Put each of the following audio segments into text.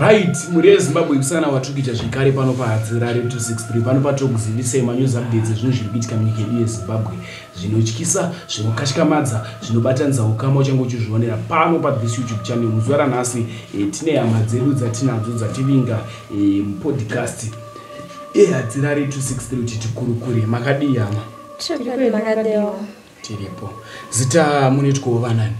Right, mhuri yeZimbabwe kusana watukija zvekare pano paHadzi Rari 263 pano patokuzivisai manews updates ezvinhu zviri kuitika munyika yedu yeZimbabwe zvinotyisa, zvinokatyamadza, zvinobatanidza ukama uchange uchizvionera pano pa this YouTube channel muzuva ranhasi e, tine hama dzedu dzatinadzo dzativinga e, mupodcast eHadzi Rari 263 kuti tikurukure makadii hama? Tiri makadii hama? tiripo zita munoitwawo vanani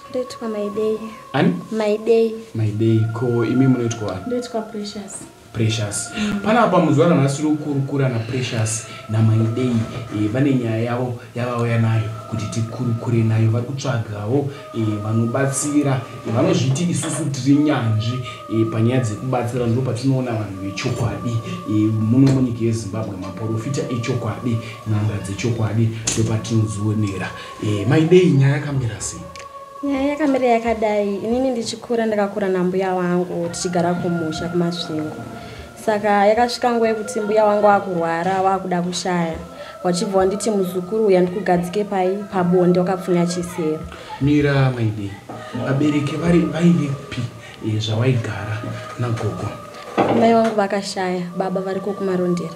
ndoitwa maidei ani maidei maidei ko imi munoitwa ani ndoitwa precious precious mm. pana apa muzuva ranhasi uri kukurukura naprecious namaidei e, vane nyaya yavo yavauya nayo kuti tikurukure nayo vari kutsvagawo Eh, vanobatsira eh, vanozviti isusu tiri nyanzvi eh, panyaya dzekubatsira ndo patinoona vanhu vechokwadi muno munyika yezimbabwe maporofita echokwadi n'anga dzechokwadi ndo patinozionera maidei nyaya yakamira sei nyaya yakamira yakadai inini ndichikura ndakakura nambuya wangu tichigara kumusha kumasvingo saka yakasvika nguva yekuti mbuya wangu wakurwara wakuda kushaya wachibva wanditi muzukuru uya ndikugadzike pai pabonde wakapfunya chisero mira maidi vabereki vari vaivipi eh, zvawaigara nagogo mai wangu vakashaya baba vari kokumarondera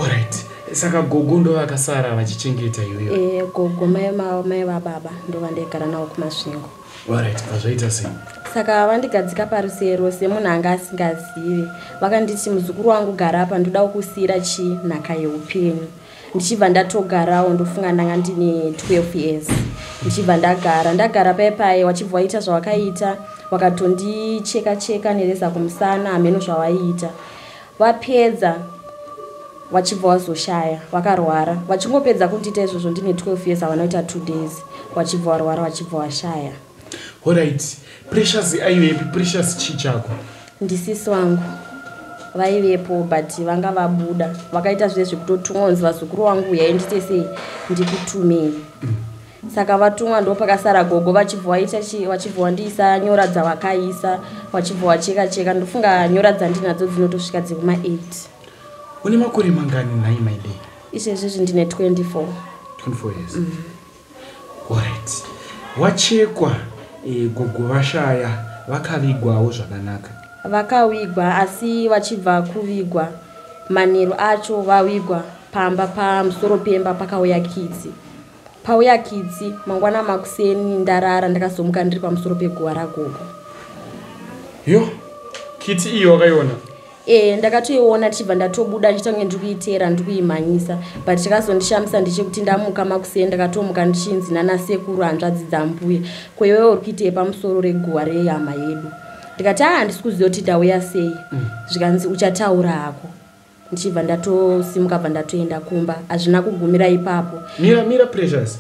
orit saka gogo ndo vakasara vachichengeta iyoyo e, gogo mai mai vababa ndo vandaigara navo kumasvingo Alright, azvaita sei? Saka vandigadzika parusee rose munhu anga asingazive. Vakanditi muzukuru wangu gara apa ndoda kukusiyira chi nhaka yeupenyu. Ndichibva ndatogarawo ndofunga ndanga ndine 12 years. Ndichibva ndagara ndagara paye paye wachibva waita zvawakaita wakatondicheka cheka nereza kumusana hameno zvawaiita. Vapedza vachibva wazoshaya vakarwara vachingopedza kundiita izvozvo ndine 12 years avanoita two days wachibva warwara wachibva washaya orit precious aiyo yepi precious chii chako ndisisi wangu vaivepo but vanga vabuda vakaita zviye zvekutotumwa kunzi vazukuru wangu uyai nditesei ndikutumei mm. saka vatumwa ndo pakasara gogo vachibva waita chi vachibva wandiisa nyora dzavakaisa vachibva wacheka cheka ndofunga nyora dzandinadzo dzinotosvika dzekuma 8 une makore mangani nhai maide izvezvezvi ndine 24 24 years mm. orit wachekwa e, gogo vashaya vakavigwawo zvakanaka vakavigwa asi vachibva kuvigwa manheru acho vavigwa pamba pamusoro pemba pakauya kidzi Pauya kitsi mangwana makuseni ndarara ndakazomuka ndiri pamusoro peguva ragogo. Yo, kitsi iyo wakaiona? ee eh, ndakatoiona tichibva ndatobuda ndichitange ndiri kuiteera ndiri kuimhanyisa but chakazondishamisa ndechekuti ndamuka makusei ndakatomuka ndichinzi nanasekuru hanzvadzi dzambuya kwewe uri kuitei pamusoro reguva rehama yedu ndikati aa handisi kuziva kuti ndauya sei mm. zvikanzi uchataura hako ndichibva ndatosimuka bva ndatoenda kumba hazvina kugumira ipapo mira mira precious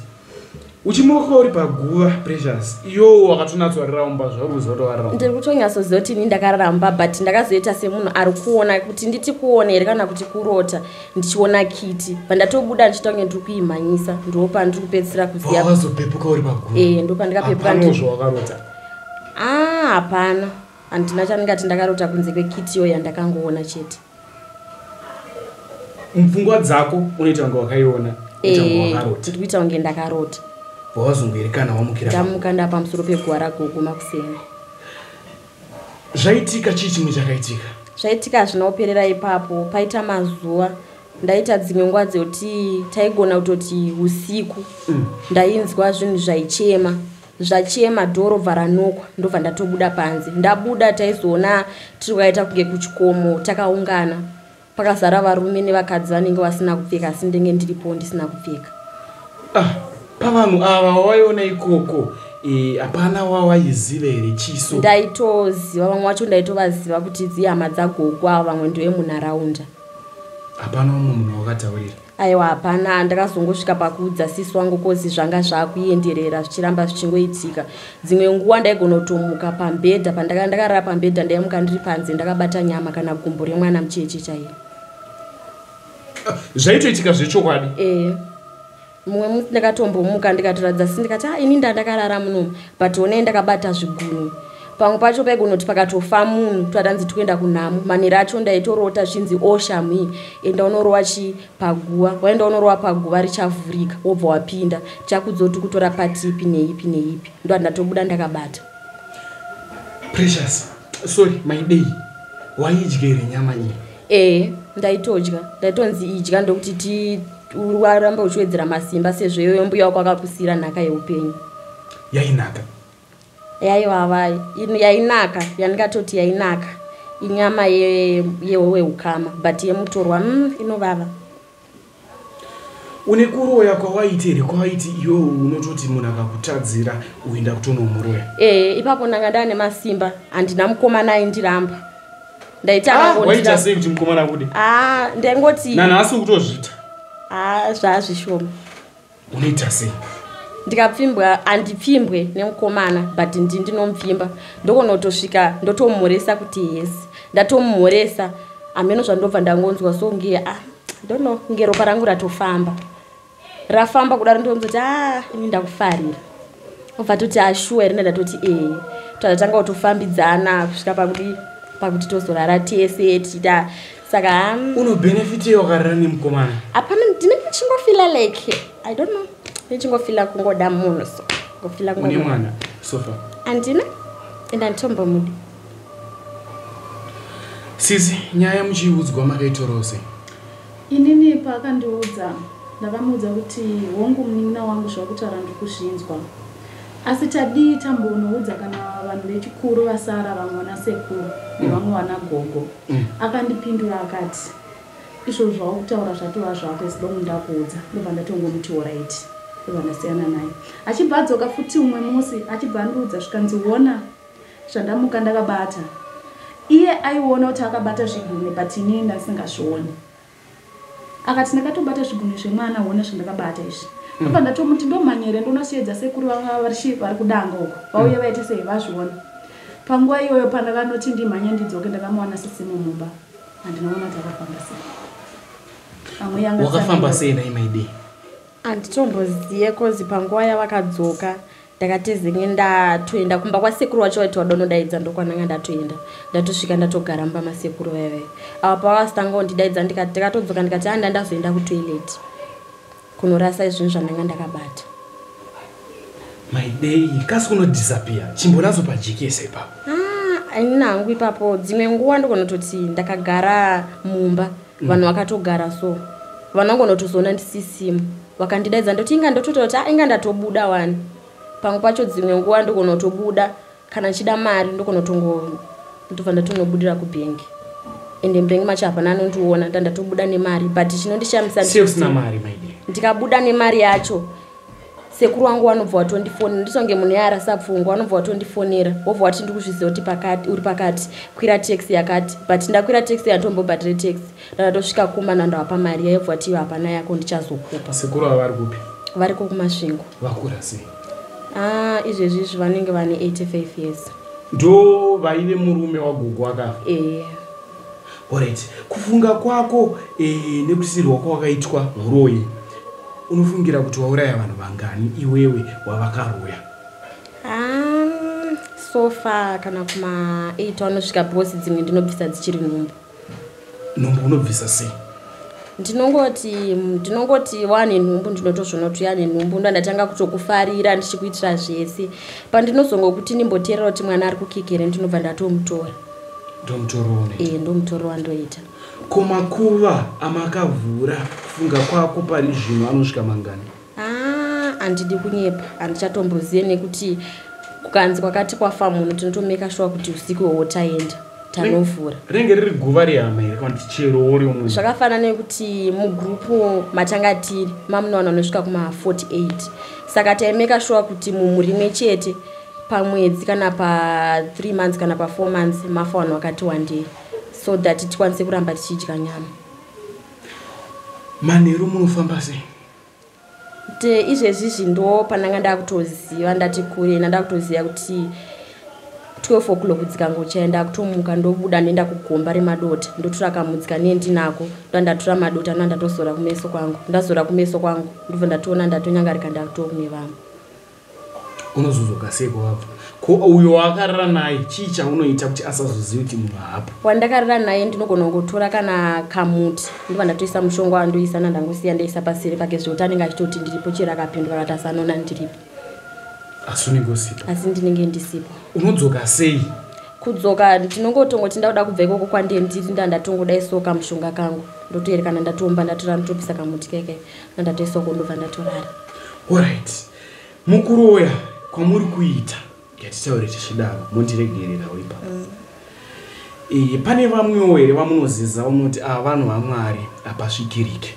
uchimuka uri paguva precious iyo wakatonatsoraramba zvaruzotovarara ndiri kutonyatsoziva kuti ini ndakararamba but ndakazoita semunhu ari kuona kuti nditi kuona here kana kuti kurota ndichiona kiti pandatobuda ndichiita kunge ndiri kuimhanyisa ndiwo pandiri kupedzisira kuzivazopepuka uri paguva e eh, ndo pandikapepuka ndozvawakarota a ah, hapana handina chandingati ndakarota kunze kwekitiyo yandakangoona chete mupfungwa dzako unoita kunge wakaiona ndiri kuita kunge ndakarota wawazongoerekana wamukira ndamuka ndapa musoro peguva ragogo makuseni zvaitika chii chimwe chakaitika zvaitika hazvina kuperera ipapo paita mazuva ndaita dzimwe nguva dzekuti taigona kutoti usiku mm. ndainzwa zvinhu zvaichema zvachema door robva ranokwa ndobva ndatobuda panze ndabuda taizoona tiri kwaita kunge kuchikomo takaungana pakazara varume nevakadzi vanenge vasina kupfeka asi ndenge ndiripo ndisina kupfeka ah, pavanhu ava wavaiona ikoko Eh, hapana e, wawaiziva here chiso ndaitoziva vamwe wacho ndaitovaziva kuti dzihama dzagogwa vamwe ndovemunharaunda hapana umwe munhu wakataurira aiwa hapana ndakazongosvika pakuudza sisi wangu kozi zvanga zvakuenderera zvichiramba zvichingoitika dzimwe nguva ndaigonotomuka pambhedha pandaka ndakarara pambhedha ndaimuka ndiri panze ndakabata nyama kana gumbo remwana mucheche chaiye zvaitoitika zvechokwadi ee mumwe musi ndakatombomuka ndikatoratidza sisi ndikati a ah, ini ndandakarara munomu but onei ndakabata zvigunwe pamwe pacho paigonoti pakatofa munhu twatanzi tikuenda kunhamo manhero acho ndaitorota zvinzi o oh, shamhi enda unorowa chii paguva waenda unorowa paguva richavhurika wobva wapinda chakudzoti kutora pati ipi neipi neipi ndo andatobuda ndakabata precious sorry maidei waidyere nyama nyii ee ndaitodya ndaitonzi idya ndokuti ti waramba uchiwedzera masimba sezvo iyoyo mbuya wako akakusiyira nhaka yeupenyu yainaka yaivava yainaka yandingatoti yainaka inyama yehowe ye ukama but yemutorwa mm, inovava une kuroya kwawaiti here kwawaiti iwe unototi munhu akakutadzira uenda kutonomuroya ee eh, ipapo ndanga ndaa nemasimba handina mukomana aindiramba ndaitawaita ah, sei kuti mukomana kude ah, ndaingoti nanhasi ukutozvita ah, zvaazvishoma unoita sei ndikapfimbwa andipfimbwe nemukomana but ndi ndinomupfimba ndokonotosvika ndotomumhoresa kuti yes ndatomumhoresa hameno zvandobva ndangonzwa so nge ah, dono nge ropa rangu ratofamba rafamba kudaro ndoonzoti a ah, ini ndakufarira obva toti ashuwa ah, here ndatoti ee tatanga kutofambidzana kusvika pakuti pakuti tozorara tese tichita saka um, unobenefitei wakarara nemukomana hapana ndine ndichingofila like i don't know ndichingofila kungoda munhu so ngofila une mwana sofa andina enda nditombomudi sisi nyaya muchiiudzwa makaitorose inini paakandiudza ndakamuudza kuti hongu munin'ina wangu zvakutaura ndikuzvinzwa Asi tadii tambonoudza kana vanhu vechikuru vasara vamwe vana sekuru nevamwe vana gogo. Mm. Akandipindura akati izvo zvavo kutaura zvatova zvako as long ndakuudza ndobva ndatongomuti horaiti ndobva ndasiyana naye achibva adzoka futi umwe musi achibva andiudza zvikanzi wona zvandamuka ndakabata iye aiona kuti akabata zvigume but ini ndasingazvioni akati ndakatobata zvigunwe zvemwana hona zvandakabata izvi mm. apa ndatomuti ndomhanyere ndonasiyedza sekuru vanga varichi vari kudanga uko vauye mm. vaite sei vazviona panguva iyoyo pandakanoti ndimhanye ndidzoke ndakamuwana sisimo mumba handinoona kuti akafamba sei amwe yanga wakafamba sei nai maidei anditomboziye kozi panguva yavakadzoka ndakatizenge ndatoenda kumba kwasekuru wacho waiti wada unodaidza ndokwananga ndatoenda ndatosvika ndatogara mumba masekuru vaive ava pavasitanga undidaidza ndikati ndakatodzoka ndikati anda ndazoenda kutoilet kunorasa izvinhu zvandanga ndakabata maidei kasi kunodisapia chimbonazo pajekese ipapo ah, ini nangu ipapo dzimwe nguva ndokonototi ndakagara mumba ah, vanhu vakatogara so vanhu vangonotozoona ndisisimu vakandidaidza ndoti inga ndotototi a ah, inga ndatobuda wani pamwe pacho dzimwe nguva ndokonotobuda kana ndichida mari ndokonotongo ndobva ndatonobudira kubhengi ende mbhengi macho hapana anondiona ndandatobuda nemari but chinondishamisa ndikabuda nemari yacho sekuru wangu wanobva watondifonera ndisonge munhu yaarasa pfungwa wanobva watondifonera wobva wati ndi kuzviziva kuti pakati uri pakati kwira taxi yakati but ndakwira taxi yatombobhadhire taxi ndatosvika kuma nandawapa mari yaibva wati iyo hapana yako ndichazokupa sekuru ava vari kupi vari ko kumasvingo vakura sei ah izvezvi izvi vanenge vane 85 years ndo vaive murume wagogo wakafa eya yeah. Alright, kufunga kwako eh, nekusirwa kwawakaitwa huroyi unofungira kuti wauraya vanhu vangani iwewe wavakaroya? Um, so far kana kuma 8 anosvika because dzimwe ndinobvisa dzichiri nhumbu. Nhumbu unobvisa sei? ndinongoti ndinongoti wane nhumbu ndinotozvonoti yane nhumbu ndandatanga kutokufarira ndichikuitira zvese pandinozongokuti ndimboteerera kuti mwana ari kukikere ndinobva ndatomutora ndomutorowaee ndomutorowa ndoita ko makuva amakavhura kufunga kwako pari zvino anosvika mangani handidi ah, kunyepa handichatombozive nekuti kukanzi kwakati kwafa munhu tinotomeka shuwa kuti usiku iwowo taenda tanovhura rinenge riri guva rehama here kana kuti chero wori umwe zvakafanana nekuti mugrupu matanga tiri mamunowana anosvika kuma 48 saka taimeka shuwa kuti mumhu rimwe chete pamwedzi kana pa 3 months kana pa 4 months mafa vanhu vakati wandei so that tikwanise kuramba tichidya nyama manheru munofamba sei te izvezvi zvindo pandanga ndakutoziva ndati kure nanda kutoziva kuti 12 o'clock dzikangochaya ndakutomuka ndobuda ndoenda kugomba remadota ndotora kamudzika nendinako ndoa ndatora madota ndoa ndatozora kumeso kwangu ndazora kumeso kwangu ndobva ndatoona ndatonyangarika ndakutokume vamwe unozozoka sei kwavabva ko uyo waakarara naye chii chaunoita kuti asazozivi kuti munhu haapo wandakarara naye ndinogona kungotora kana kamuti ndiva ndatoisa mushonga wandoisa nandangosiya ndaisa pasiri pake zvekuti anenge achitoti ndiripo chero akapindwa kati asanoona ndiripo asi unenge usipo asi ndinenge ndisipo unodzoka sei kudzoka ndinongotongoti ndakuda kubva ikoko kwandie ndiri ndandatongoda isoka mushonga kangu ndotoerekana ndatoomba ndatora ndotopisa kamuti keke andatesoko ndobva ndatorara orit mukuroya kwamuri kuita yatitaure tichidaro mondiregererawo ipapo mm. e, pane vamwewo here vamunoziza unoti ava ah, vanhu vamwari hapasvikirike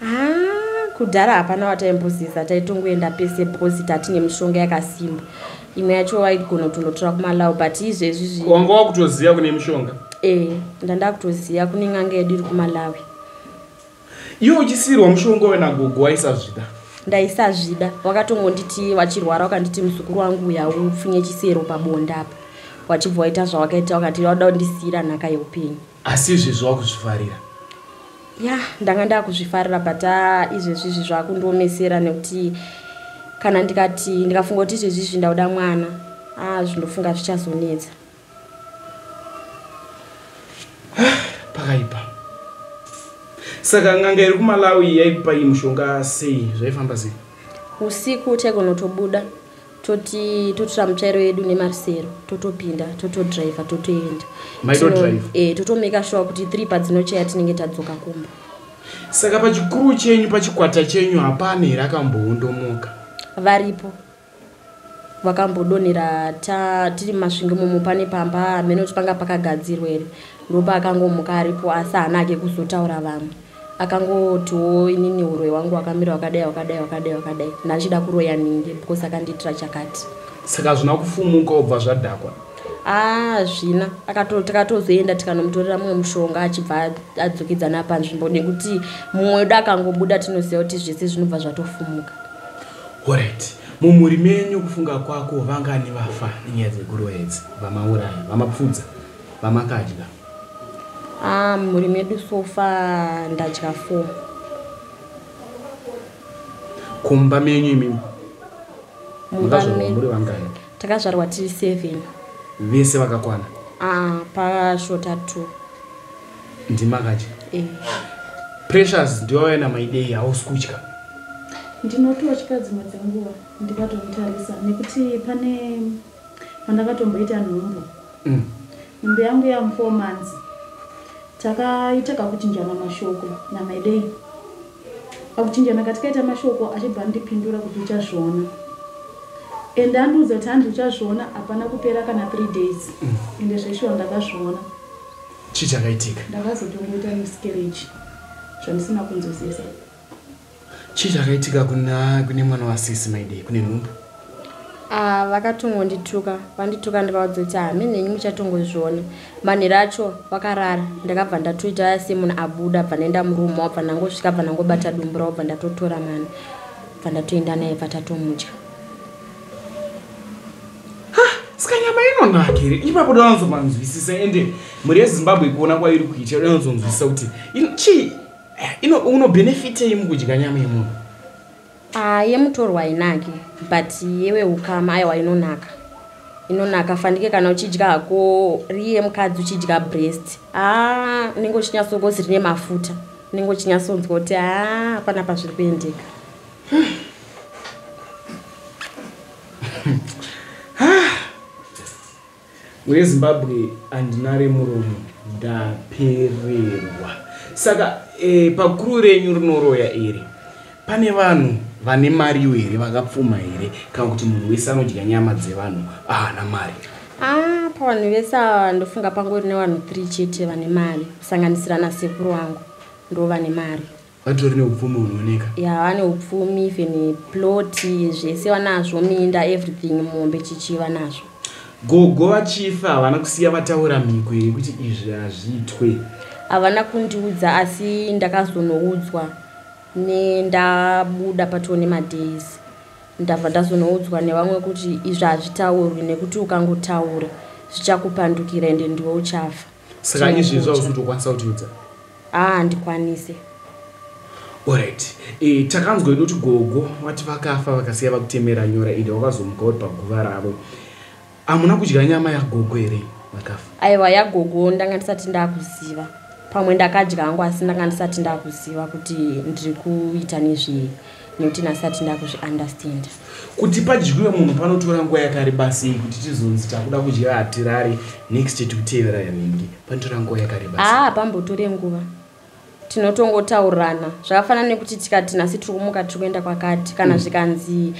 ah, kudhara hapana wataimboziza taitongoenda pese bhosi tatine mishonga yakasimba imwe yacho waigona kutonotora kumalawu but izvezvi zvi wanga wakutoziva kune mishonga e, ndandakutoziva kune n'anga yedu iri kumalawi iwe uchisiirwa mushonga uyo nagogo waisazvida ndaisazvida wakatongonditi wachirwara wakanditi muzukuru wangu uya upfunye chisero pabonda apa wachibva waita zvawakaita wakati wada kundisiira nhaka yeupenyu asi izvezvi wakuzvifarira ya ndanga ndakuzvifarira but ah, izvezvi izvi zvakundiomesera nekuti kana ndikati ndikafunga kuti izvezvi izvi ndauda mwana a ah, zvindofunga zvichazonetsa pakaipa saka nganga iri kumalawi yaikupa iyi mushonga sei zvaifamba sei usiku taigonotobuda toti totora mutsvairo yedu nemarisero totopinda totodriver totoenda eh, totomeka shuwa kuti three padzinochaya tinenge tadzoka kumba saka pachikuru chenyu pachikwata chenyu hapana here akamboondomoka varipo vakambodonhera ta tiri mumasvingo momo pane pamba hameno kuti panga pakagadzirwa here ndopaakangomuka aripo asi haana ake kuzotaura vamwe akangotiwo inini uroyi wangu wakamira wakadai wakadai wakadai wakadai ndandichida kuroya ninge because akandiitira chakati saka hazvina kufumuka obva zvadhakwa hazvina ah, takatozoenda tikanomutorera mumwe mushonga achibva adzokedzana panzvimbo nekuti mumwe wedu akangobuda tinoziva kuti zvese zvinobva zvatofumuka Alright. Mumhuri menyu kufunga kwako vangani vafa nenyaya dzeguruva idzi? Vamauraya, vamapfudza, vamakadya? Ah, mumhuri medu so far ndadya four. Kumba menyu imimi? Mumba Makazvarwa medu muri vangani? takazvarwa tiri seven. Vese vakakwana? Ah, pashota two. ndimakacha eh. pressures ndiwawena maidei hausi kutya ndinototya dzimwe dzenguva ndikatomutarisa nekuti pane pandakatomboita nhumbu mm. nhumbu yangu yamufour months takaita kakuchinjana mashoko namaidei pakuchinjana katikaita mashoko achibva ndipindura kuti uchazviona and andiudza kuti handi uchazviona hapana kupera kana three days mm. ende zveshuwa ndakazviona chii chakaitika ndakazotongoita miscarriage zvandisina kunzwisisa chii chakaitika kuna kune mwana wasisi maidei kune nhumbu ah, vakatongondituka vandituka ndikavaudza kuti hame nhenyu muchatongozviona manhero acho vakarara ndakabva ndatoita semunhu abuda bva ndaenda murume wabva ndangosvika bva ndangobata dumbu ravo bva ndatotora mwana bva ndatoenda naye bva tatomudya ska nyama inonaka here ipapo danozovanzwisisa ende mhuri yezimbabwe kuona kwairi kuitira danozonzwisisa kuti chii eh, unobenefitei mukudya nyama yemunhu ah, yemutorwa hainake but yewe ukama aiwa inonaka inonaka fandike kana uchidya hako riye mukadzi uchidya breast haa ah, unenge uchinyatsogozi rine mafuta unenge uchinyatsonzwa kuti haa ah, hapana pazviri kuendeka wezimbabwe handina remuromo ndapererwa saka e, pakuru renyu rinoroya iri pane vanhu vane mariwo here vakapfuma here kana kuti munhu wese anodya nyama dzevanhu ahana ah, mari ah, pavanhu vese ava ndofunga pangori nevanhu three chete vane mari kusanganisira nasekuru wangu ndo vane mari vatori neupfumi hunooneka ya vane upfumi even ploti zvese vanazvo minda everything mombe chichi vanazvo gogo vachifa havana kusiya vataura mhiko here kuti izvi hazviitwe havana kundiudza asi ndakazonoudzwa nendabuda patoo nemadays ndabva ndazonoudzwa nevamwe kuti izvi hazvitaurwi nekuti ukangotaura zvichakupandukira ende ndiwe uchafa saka izvi izvi zvausi kutokwanisa kutiudza haa ah, handikwanise orit e, takanzwa inoti gogo vati vakafa vakasiya vakutemera nyora ida wakazomuka uri paguva ravo hamuna kudya nyama yagogo here vakafa aiwa yagogo ndanga ndisati ndakuziva pamwe ndakadya hangu asi ndanga ndisati ndakuziva kuti ndiri kuita nezvei nekuti nasati ndakuzvi understand kuti padyiwe munhu panotora nguva yakareba sei kuti tizonzi takuda kudya hatirari next tikutevera yanenge panotora nguva yakareba aa ah, pambotore nguva tinotongotaurirana zvakafanana nekuti tikati nasi tiri kumuka tiri kuenda kwakati kana mm. zvikanzi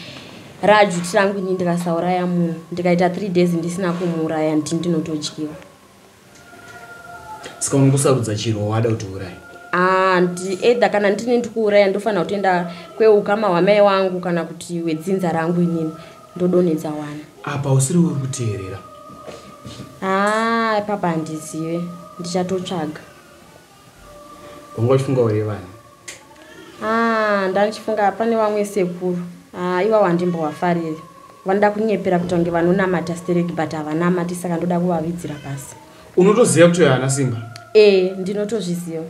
raju tirangu ini ndikasauraya munhu ndikaita three days ndisina kumuuraya ndini ndinotodyiwa saka unongosarudza chiro wada kuti uuraye handi either kana ndini ndikuuraya ndofanira kutoenda kweukama hwamai wangu kana kuti wedzinza rangu inini ndodonhedza wana apa usiri uri kuteerera haa ah, papa handizive ndichatotsvaga wanga uchifunga uri vani ah, ndandichifunga pane vamwe sekuru ah, iva wandimbovafariri vanoda kunyepera kuti vange vanonamata stereki but havanamati saka ndoda kuvavidzira pasi unotoziva kuti uyo haana simba ee eh, ndinotozviziva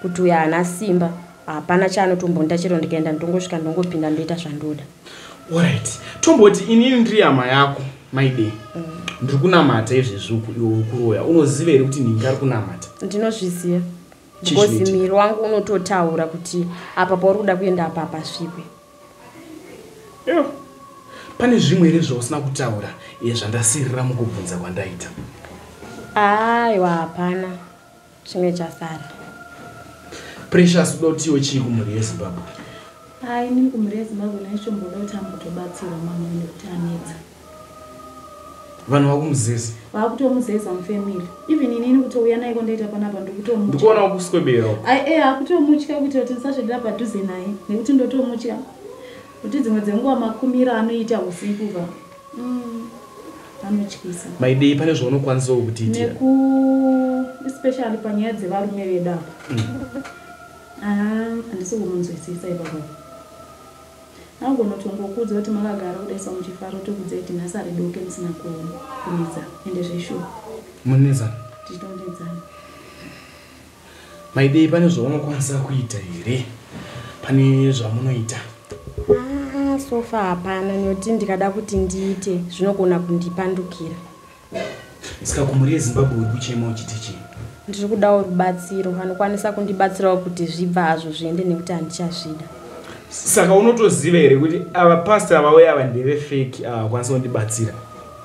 kuti uyo haana simba hapana chaanotombonda chero ndikaenda ndongosvika ndongopinda ndoita zvandoda orit tomboti inini ndiri yama yako maidei mm. ndiri kunamata izvezvi uku iwe uri kuroya unoziva here kuti ndinga ari kunamata ndinozviziva because miri wangu unototaura kuti apa pauri kuda kuenda apa apasvikwe yeah pane zvimwe here zvausina kutaura iye zvandasirira mukubvunza kwandaita aiwa hapana chimwe chasara precious dotiwo chii kumhuri yezimbabwe haa inini kumhuri yezimbabwe naishomboda kuti ambotobatsirwa mamwe nekuti anetsa vanhu vakumuzeza vakutomuzeza mufamily even inini kutouya naiko ndaita panapa ndikutomndikuona wakuswebera ae akutomutya kuita kuti ndisasvedera padhuze naye nekuti ndotomutya kuti dzimwe dzenguva makumiro anoita usiku va Mm. Anotyisa. Maidei pane zvaunokwanisa kutiitira. Neku especially panyaya dzevarume vedu apa. Mm. Ah, andisi kumunzwisisa ipapo. Anogona kutongokuudza kuti makagara kudaisa muchifaro tokudza kuti nhasi ari doke musina kunetsa ende zveshuwa. Munetsa. Tichitonetsana. Maidei pane zvaunokwanisa kuita here pane zvamunoita? Ah, sofa hapana nekuti ndikada kuti ndiite zvinogona kundipandukira. Saka kumhuri yeZimbabwe uri kuchema uchiti chii? Ndiri kudawo rubatsiro, vanokwanisa kundibatsirawo kuti zvibva hazvo zviende nekuti handichazvida. Saka unotoziva here kuti ava pastor vauya ava ndeve fake avakwanisa kundibatsira?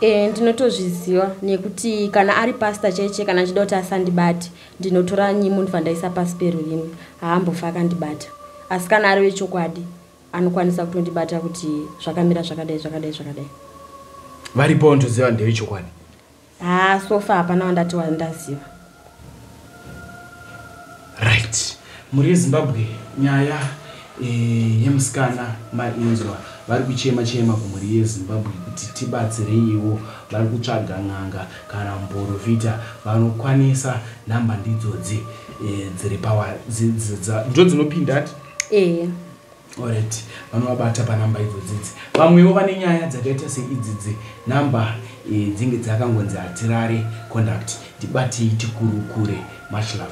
e, ndinotozviziva nekuti kana ari pasta cheche kana achida kuti asandibati ndinotora nyimu ndibva ndaisa pasi perurimi haambofa akandibata asi kana ari wechokwadi anokwanisa kutondibata kuti zvakamira zvakadai zvakadai zvakadai varipo ndoziva ndevechokwadi haa sofa hapana wandati wandaziva right mhuri yezimbabwe nyaya eh, yemusikana mainzwa vari kuchema chema kumhuri yezimbabwe kuti tibatsireiwo vari kutsvaga n'anga kana muporofita vanokwanisa nhamba ndidzodzi eh, dziri pawa ndo dzinopinda ti eya Alright, vanovabata panumber idzo dzidzi. Vamwewo vane nyaya dzakaita seidzi dzi number eh, dzinge dzakangonzi hatirare conduct. Ndibatei tikurukure. Much love.